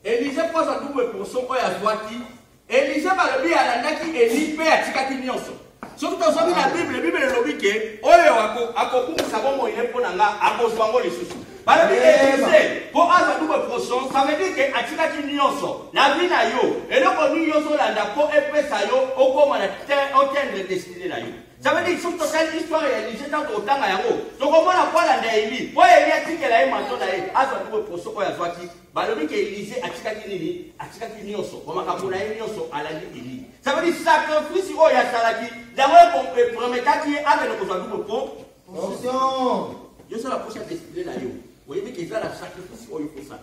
Elisha mpo azwa double portion oyo azwaki Elisha balobi alandaki Eli mpe atikaki nyonso soki tozwami na bible bible elobi ke oyo akobungisa bomoi ye mpo na nga akozwa yango lisusu balobi elise mpo azwa double portion ça veut dire ke atikaki nyonso na vi na yo eloko nini ozolanda mpo epesa yo okoma na otendre destine na yo Ça veut dire soki totali histoire ya Elisha ntango tokotanga yango tokomona mpo alanda Eli mpo Eli atikela ye manto na ye azwa tuko poso oyo azwaki balobi ke Elise atikaki nini atikaki nyonso kwa makambo na ye nyonso alandi Eli ça veut dire sacrifice oyo asalaki yango eprometaki ye akende kozwa tuko po position yo sala posa destinée na yo oyebi ke eza na sacrifice oyo kosala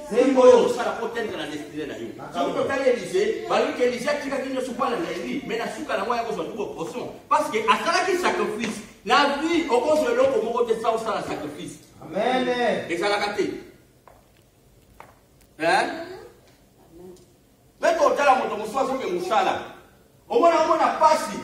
Nini oyo okosala mpo otendre na destine na yo? Soki totali Elise, balobi ke Elise atikaki nyonso mpo alanda Eli, me na suka na yango ya kozwa tuko poson, parce que asalaki sacrifice. Na vie okozwa eloko moko te sa osala sacrifice. Amen. Ezalaka te. Hein? Mpe totala moto mosusu azoke mosala. Omona omona pasi.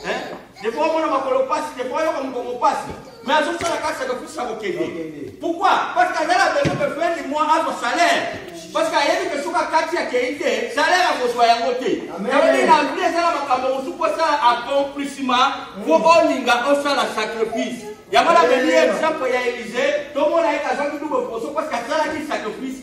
Eh? Ndipo omona makolo pasi, ndipo oyoka mokongo pasi. Mais azosala kaka sacrifice ya kokende. Pourquoi? Parce que azala besoin que fin du mois azwa salaire. Parce que ayebi que soki akati akei te, salaire akozwa yango te. Yango na vie ezala makambo mosusu mpo osala accomplissement mpo olinga osala sacrifice. Yango na beli exemple ya Elise, tomona ye kazwaki double promotion parce que asalaki sacrifice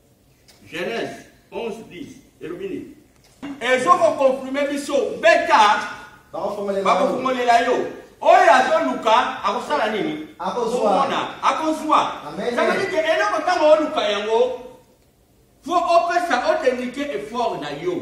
Genèse 11, 10. elobi nini ezokokonfirme biso beta bakofungolela yo oyo azoluka akosala nini akozwana akozwa samalike eloko ntango oluka yango fo opesa otendike effort na yo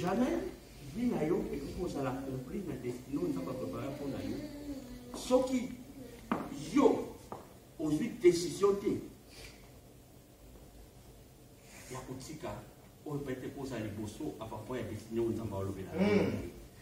jamais vie na yo ekoki kozala compris na destine oyo nzambe aprepare mpo na yo soki yo ozwi décision te ya kotika oyo pete kozala liboso apapoi ya destine oyo nzambe alobela hmm.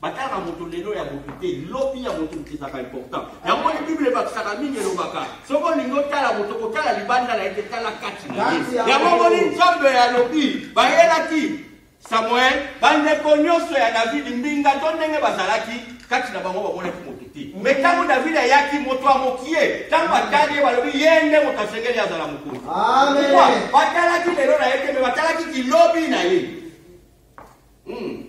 batala na moto lelo ya moto te lobi ya moto ezaka important yango moni bible ebakisaka mingi elobaka soki olingi otala moto kotala libanda na ete tala kati na ye yango moni nzambe ya lobi bayelaki samuel bandeko nyonso ya davidi mbinga to ndenge bazalaki kati na bango bamonaki moto te me ntango davidi ayaki moto ya mokie ntango atali ye balobi ye nde moto asengeli azala mokonzi batalaki lelo na ye te me batalaki kilobi na ye hmm.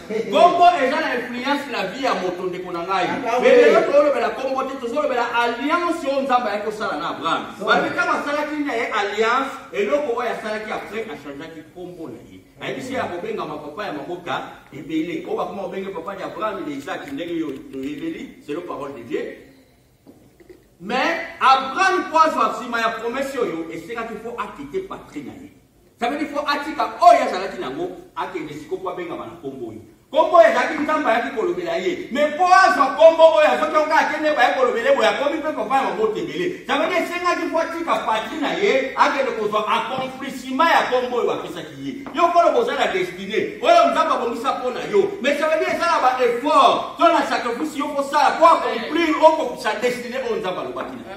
kombo eza na influence na vie ya moto ndeko na ngai lelo tolobela kombo te tozolobela alliance oyo nzambe ayaki kosala na abraham babi ntango asalaki na ye alliance eloko oyo asalaki apres achangeaki kombo na ye ayebisi ye ya kobengama papa ya mabota ebele oyo bakoma kobenge papa de abraham de isaki ndenge yo toyebeli selo parole de dieu Mais Abraham mpo azwa nsima ya promese oyo esengaki mpo akite patrie na ye sabeli mpo atika oyo azalaki nango akende siko mpo abengama na nkombo oyo nkombo oyo ezalaki nzambe ayaki kolobela ye me mpo azwa nkombo oyo azoki yango kaka kende baye kolobele boye akomi mpe papa ya mabota ebele sabeli esengaki mpo atika patrie na ye akende kozwa accomplissement ya nkombo oyo bapesaki ye yo koloba oza na destine oyo nzambe abongisa mpo na yo mais ça veut dire esala ba effort to na sacrifice yo kosala mpo accomplir okokisa destine oyo nzambe alobaki na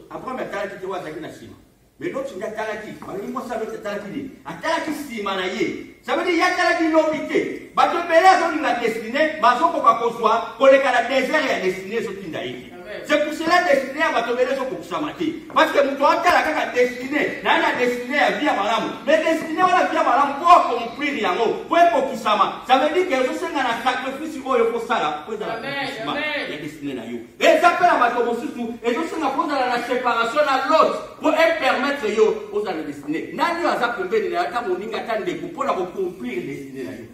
abraham atalaki te oyo azalaki na nsima mais loti nde atalaki balobi mwasi aloti atalaki nini atalaki nsima na ye ça veut dire ye atalaki lobi te bato ebele azolinga destine bazokoka kozwa koleka na desert ya destine ezotinda ye te C'est pour cela destiné ya bato bele ezokokisama te parce que moto atala kaka destiné naye na destiné ya vie ya malamu mais destiné wana vie ya malamu mpo akomprire yango mpo ekokisama ça veut dire que ezosenga na sacrifice oyo okosala mpo ezala kokisma ya destiné na yo eza mpe na bato mosusu ezosenga mpo ozala na séparation na lot mpo epermettre yo ozala destiné nani oyo aza pembeni na yo ata moninga ata ndeko mpo na kokomprire destiné na yo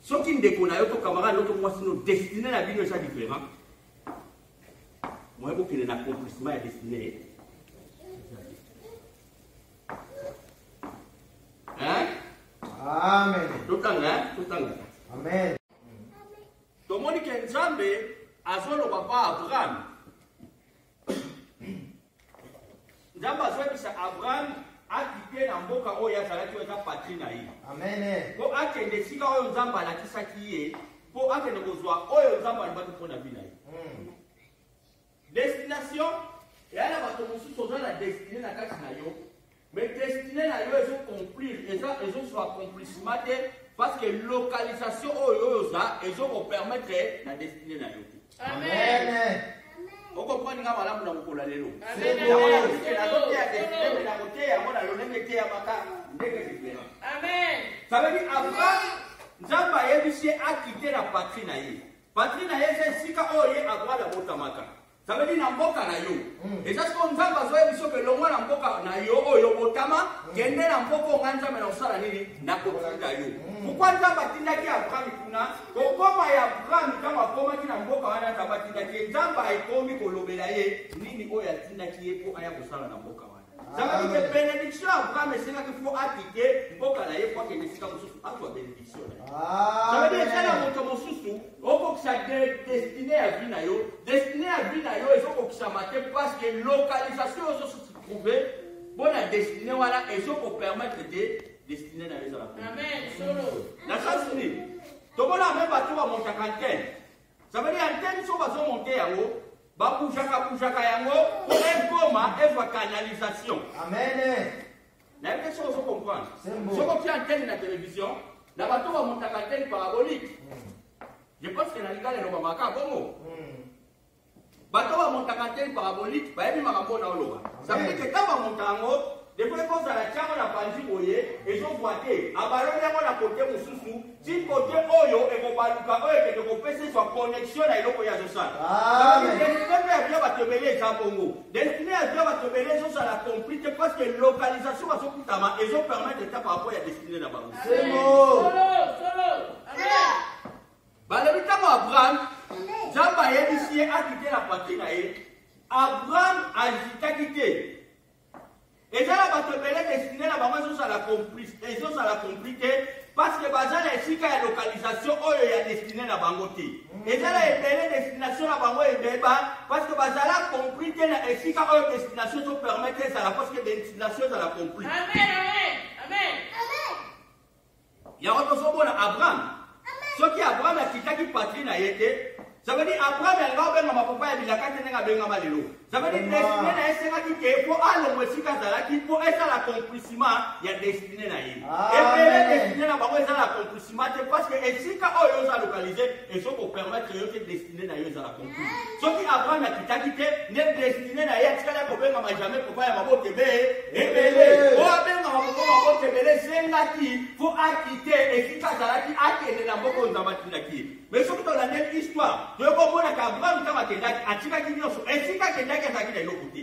soki ndeko na yo to camarade no to mwasi no destine na bino eza different moye bokende na accomplissement ya destine ye amen totanga totanga amen tomoni ke nzambe azoloba pa abraham nzambe azwakisa abraham akite na mboka oyo azalaki oyo eza patri na ye mpo akende esika oyo nzambe alakisaki ye mpo akende kozwa oyo nzambe alobaki mpo na bina ye hmm. destination eya na bato mosusu oza na destine na kati na yo Mais destiné na yo ezo conclure, eza ezo soit accomplissement te parce que localisation oyo oyo oza ezo ko permettre na destiné na yo te. Amen. Amen. okoprendre nga malamu na mokolo ya lelo nazoteya destiné na koteya yango na yo ndenge eteyamaka ndenge diferent ça veut dire avant nzambe ayebisi ye akite na patrie na ye patrie na ye eza esika oyo ye abrada botamaka Ça veut dire na mboka na yo. Eza siko nzambe azoya biso ke longwa na mboka na yo oyo botama kende na mboka onga nzambe na kosala nini na kotinda yo. Pourquoi nzambe atindaki Abraham kuna kokoma ya Abraham ntango akomaki na mboka wana nzambe atindaki ye nzambe akomi kolobela ye nini oyo atindaki ye mpo aya kosala na mboka wana. Zala mike benediction Abraham esengaki fo akite mboka na ye po akende esika mosusu azwa benediction na ye. Zala bien tala moto mosusu okokisa destine ya vie na yo destine ya vie na yo ezokokisama te parce que localisation oyo ozosusu trouve mpo na destine wana ezokopermettre te destine na yo ezala. Amen. Solo. Na sens nini? Tomona mpe bato bamontaka ntene Ça veut dire antenne soki bazo monte yango babujaka bujaka yango po ekoma ezwa canalisation amen nayebi te soki ozo comprendre soki otia antenne na télévision na bato bamotaka antenne parabolique je pense que na lingala elobamaka bongo hmm. bato bamontaka te parabolike bayebi makambo oyo naoloba sabili ke ntango bamonta yango defo ekozala ntiango na panzi boye ezozwa te abaloli yango na kote mosusu ti kote oyo ekobaluka oyo ekende kopesa ezwa connexion na eloko ya zosala destine mpe ya bia bato ebele eza bongo destine ya bia bato ebele ezozala compris te parce que localisation bazokutama ezopermettre ta par rapport ya destine na bango balobi ntango abraham nzambe ayebisi ye akite na patri na ye abraham azitaki te eza na bato ebele destine na bango ezozala complice ezozala compli te parce que baza na esika ya localisation oyo ya destine na bango te eza na ebele destination na bango ebeba parce que bazala compli te na esika oyo destination ezopermettre ezala parce que destination ezala compli amen amen amen Yango tozomona Abraham. Soki Abraham akitaki patrie na ye te, ça veut dire Abraham alingaki obengama papa ya bilaka te ndenge abengama lelo. Ça veut dire destine na ye esengaki te mpo alongwa esika azalaki mpo esala accomplissement ya destine na ye. Ebele destine na bango ezala accomplissement te parce que esika oyo oza localise ezo ko permettre yo te destine destine na yo ezala conclu soki abraham akitaki te nde destine na ye atikali akobengama jamais papa ya mabota ebee ebele o abengama papa mabota ebele esengaki fo akite esika azalaki akende na mboka oyo nzambe atindaki ye mais soki tolandeli histoire toyoko omonaka abraham ntango akendaki atikaki nyonso esika akendaki azalaki na eloko te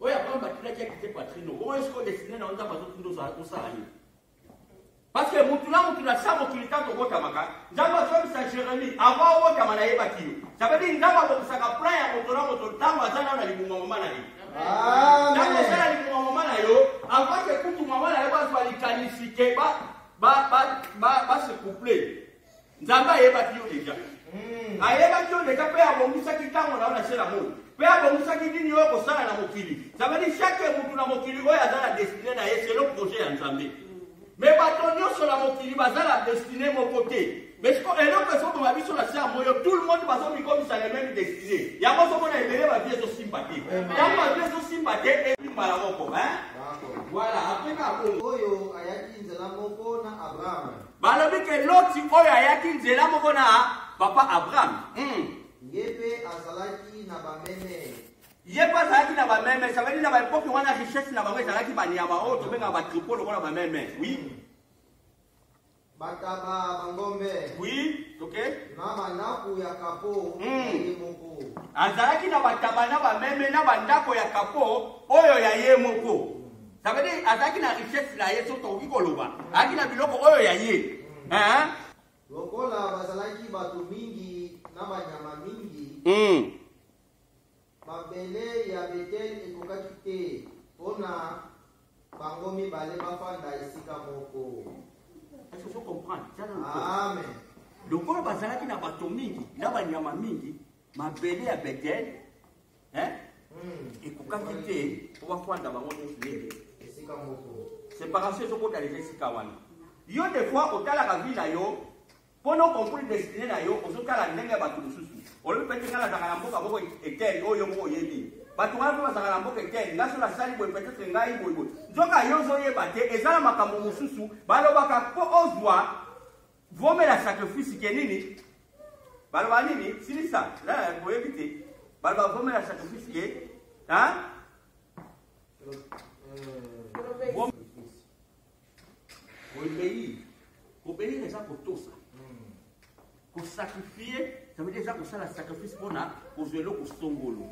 oyo apamba batilaki ya kite patrino oyo siko desine na yo nzambe azotunda ozala kosala ye parceke motu na motu na sa mokili ntango obotamaka nzambe azobisa jérémi avant obotama nayebaki yo sabedi nzambe abokisaka plan ya moto na moto ntango aza nao na libuma mama na ye ntango oza na libuma mama na yo avake kutu mama na yo bazwa likanisi ke base couple nzambe ayebaki yo deja hmm. ayebaki yo deja mpe abongisaki ntango na yo na se na moi mpe abongisaki nini oyo kosala na mokili zabadi shake motu na mokili oyo aza na destine na ye selo projet ya nzambe hmm. me bato nyonso na mokili baza na destine moko te mesiko eloko ezoboma biso na se ya moyo tout le monde bazomikomisa le meme destine yango ozomona ebele bavi ezosimba te ntango bavi ezosimba te ebimbala moko voilà apeka oyo ayaki nzela moko na abrahama Balobi ke Loti oyo ayaki nzela moko na papa Abraham. Hmm. Ye pe azalaki na bameme. Ye pe azalaki na bameme. Ça veut dire na ba epoque wana richesse na bango ezalaki banyama oyo tobengaka ba troupeau lokola bameme. Oui. Bataba bangombe. Oui, ok. Na bandako ya kapo. Hmm. Azalaki na bataba na bameme na bandako ya kapo oyo ya ye moko. Ça veut dire azalaki na richesse na ye soki tokoki koloba azalaki na biloko oyo ya ye hein? lokola bazalaki bato mingi na banyama mingi Mm. mabele ya betele ekokaki te mpo na bango mibale bafanda esika moko Est-ce que je comprends? Tiens, non, non. amen lokola bazalaki na bato mingi na banyama mingi mabele ya betele eh? hmm. ekokaki te mpo bafanda bango nyonso ndenge séparation ezokota leka esika wana yo de fois otalaka vie na yo mpo na okompris destine na yo ozotala ndenge ya bato mosusu olobi pete nga nazalaka na mboka moko etele oyo yo moko oyebi bato wana mpe bazalaka na mboka etele nga so nasali boye petetre ngai boyeboye nzoka yo ozoyeba te eza na makambo mosusu balobaka mpo ozwa Vomela sacrifice ke nini? Baloba nini? Silisa. La boyebi te. Baloba vomela sacrifice ke hein? Obéir. Obéir eza kotosa. Kosacrifier, ça veut dire eza kosala sacrifice mpona kozwa eloko songolo.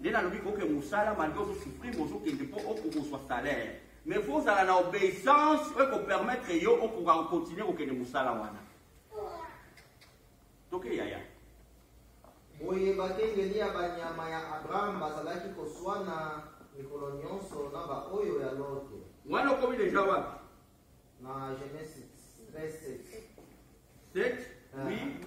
Nde nalobi koke mosala malgre ozosufrir ozokende mpo okokozwa salaire. Mais faut ozala na obeissance oyo ko permettre yo okoka ko continuer kokende mosala wana. Toke yaya. Boye bakengeli ya banyama ya Abraham bazalaki koswana mikolo nyonso na baoyo ya Lote. Wana okomi deja wapi? Na Genesis 13 7. 7 oui. Uh,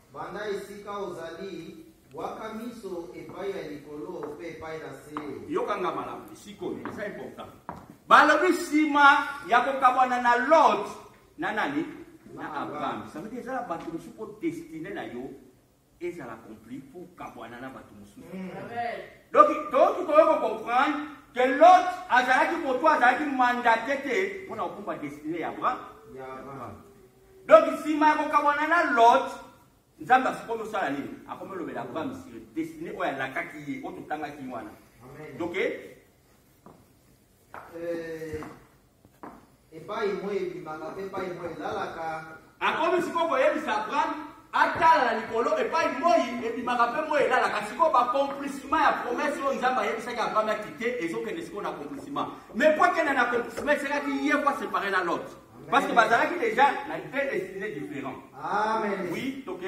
Banda esika ozali, bwaka miso epai ya likolo mpe epai na se. Yoka nga malamu sikoyo, eza important. Balobi nsima ya kokabwana na Lot na nani? Na Abraham. Ça veut dire ezala bato mosusu mpo destine na yo ezala accompli mpo okabwana na bato mosusu. Mm. Donc toyoki koyo kocomprendre que Lot azalaki moto azalaki mandate te mpo na kokumba destine ya Abraham. Donc sima ya kokabwana na Lot, Nzambe asikomi osala nini? Akomi olobela Abraham sur destinée oyo alakaki ye, oyo totangaki wana. Donc euh, epai moi ebimaka mpe epai moi elalaka. Akomi sikoyo koyebisa Abraham atala na likolo epai moi ebimaka mpe moi elalaka. Sikoyo bacomplissement ya promesse oyo Nzambe ayebisaki Abraham akite ezokende sikoyo na accomplissement. Mais mpo akenda na accomplissement esenaki ye mpo asepare na Lot. Parce que bazalaki déjà na deux destinées différents. Amen. Oui, ok.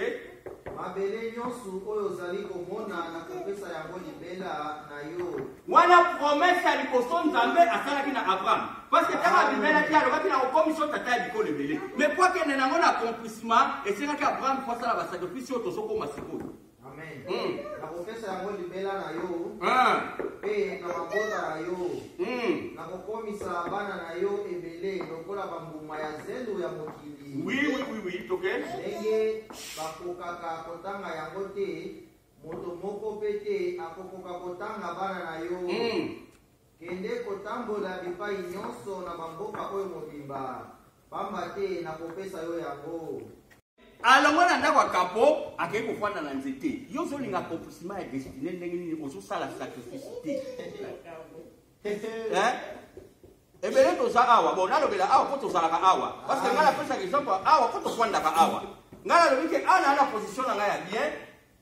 mabele nyonso oyo ozali komona nakopesa yango libela na yo wana promese ya liboso nzambe asalaki na abraham parceke ntango abimelaki alobaki na kokomisa tata ya bikolo ebele mai po akende nango na accomplissement esengaki abraham po asala basacrifice oyo tozokoma sikoyo Amen. Mm. Nakopesa yango libela na yo Ah. mpe na mabota na yo Mm. nakokomisa bana na yo ebele lokola bambuma ya zelo ya mokili Oui, oui, oui, oui, it's okay. ndenge bakokaka kotanga yango te moto moko mpe te akokoka kotanga bana na yo Mm. Kende kotambola bipai nyonso na bamboka oyo mobimba, pamba te nakopesa yo yango. Alongwe na ndako ya kapo, akei kofanda na nzete. Yo ozolinga accomplissement ya destine ndenge nini? Ozosala sacrifice te. Eh? ebele toza awa bon nalobela awa mpo tozalaka awa parce que ngai napesaka exemple awa mpo tofandaka awa ngai nalobi ke ana ana position na ngai ya bien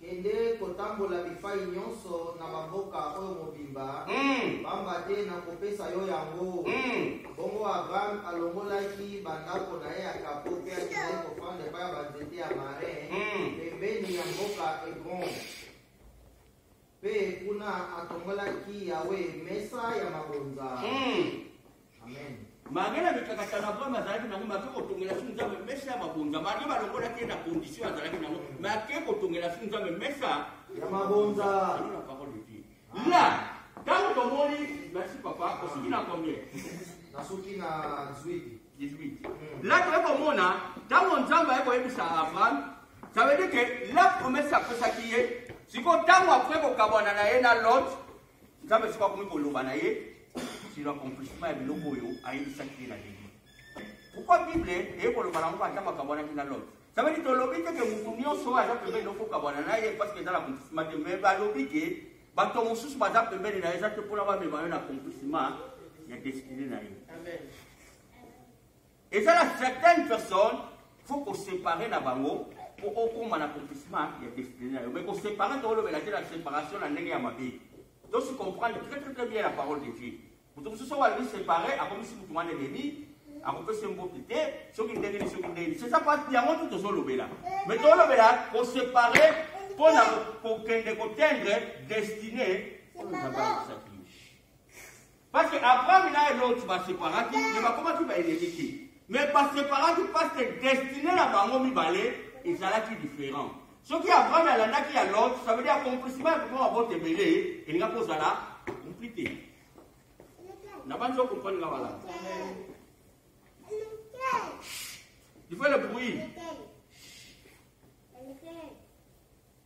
Kende kotambola bipai nyonso na bamboka oyo mobimba, Mm. pamba te nakopesa yo yango. Mm. Bongo Abraham alongolaki bandako na ye ya kapo mpe akendaki kofanda epai ya banzete ya marin Mm. pembeni ya mboka Hebron. Mpe kuna atongolaki Yawe mesa ya mabonza. Hmm. Amen. Malgre na mikakatano Abraham azalaki nango, make kotongela su Nzambe mesa ya mabonza. Malgre balongolaki ye na condition azalaki nango, make kotongela su Nzambe mesa ya mabonza. Alona parole de Dieu. Là, ntango tomoni, merci papa, osuki na combien? Nasuki na 18. 18. Là, toye komona ntango nzambe aye koyebisa abraham ça veut dire que la promesse apesaki ye sikoyo ntango apres kokabwana na ye na lot nzambe sikoyo akomi koloba na ye sur accomplissement ya biloko oyo ayebisaki ye na debut pourkoi bible eye koloba nango ata makabwanaki na lot ça veut dire tolobi te ke motu nyonso oyo aza pembeni okokabwana na ye parce que eza na accomplissement te mais balobi ke bato mosusu baza pembeni na ye eza te mpona bamema yo na accomplissement ya destine na ye eza na certaines personnes faut kosepare na bango mpo okóma na accomplissement ya destine na yo mais kosepare tokolobela te na séparation na ndenge ya mabe tosi comprendre très très très bien la parole de dieu moto mosusu oyo alobi sépare akomisi moto wana elemi akopesa mbote te soki ndenge ni soki ndenge c'est ça pas yango nde tozolobela mais tozolobela kosepare mpo na kokende kotendre destine oyo nzambe alobisaki Parce que Abraham na Lot ba separaki mais bakomaki ba ennemis te. Mais ba separaki parce que destiné na bango mibale ezalaki différent. Soki Abraham alandaki ya Lot, ça veut dire accomplissement ya kokoma bote ebele elinga kozala compris te. Na banzi okomprendre nga balanda. Il faut le bruit.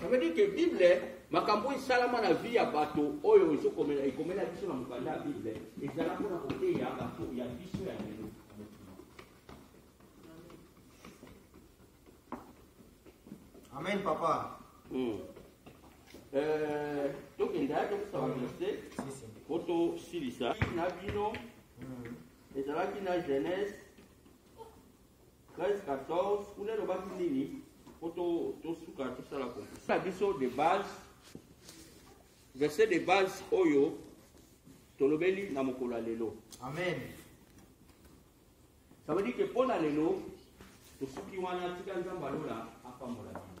Ça veut dire que Bible, makambo esalama na vie ya bato oyo ezokomela ekomela biso na mokanda ya Bible ezala mpona koteya bato ya biso ya lelo. Amen, papa. Mm. Euh, donc, il y a donc ça va verser. Photo silisa. Na bino. Hmm. Ezalaki na jeunesse. 13-14 kuna elobaki nini po tosuka tosala na biso de base verset de base oyo tolobeli na mokolo ya lelo amen ça veut dire que mpo na lelo tosuki wana tika nzambe alola apambola bino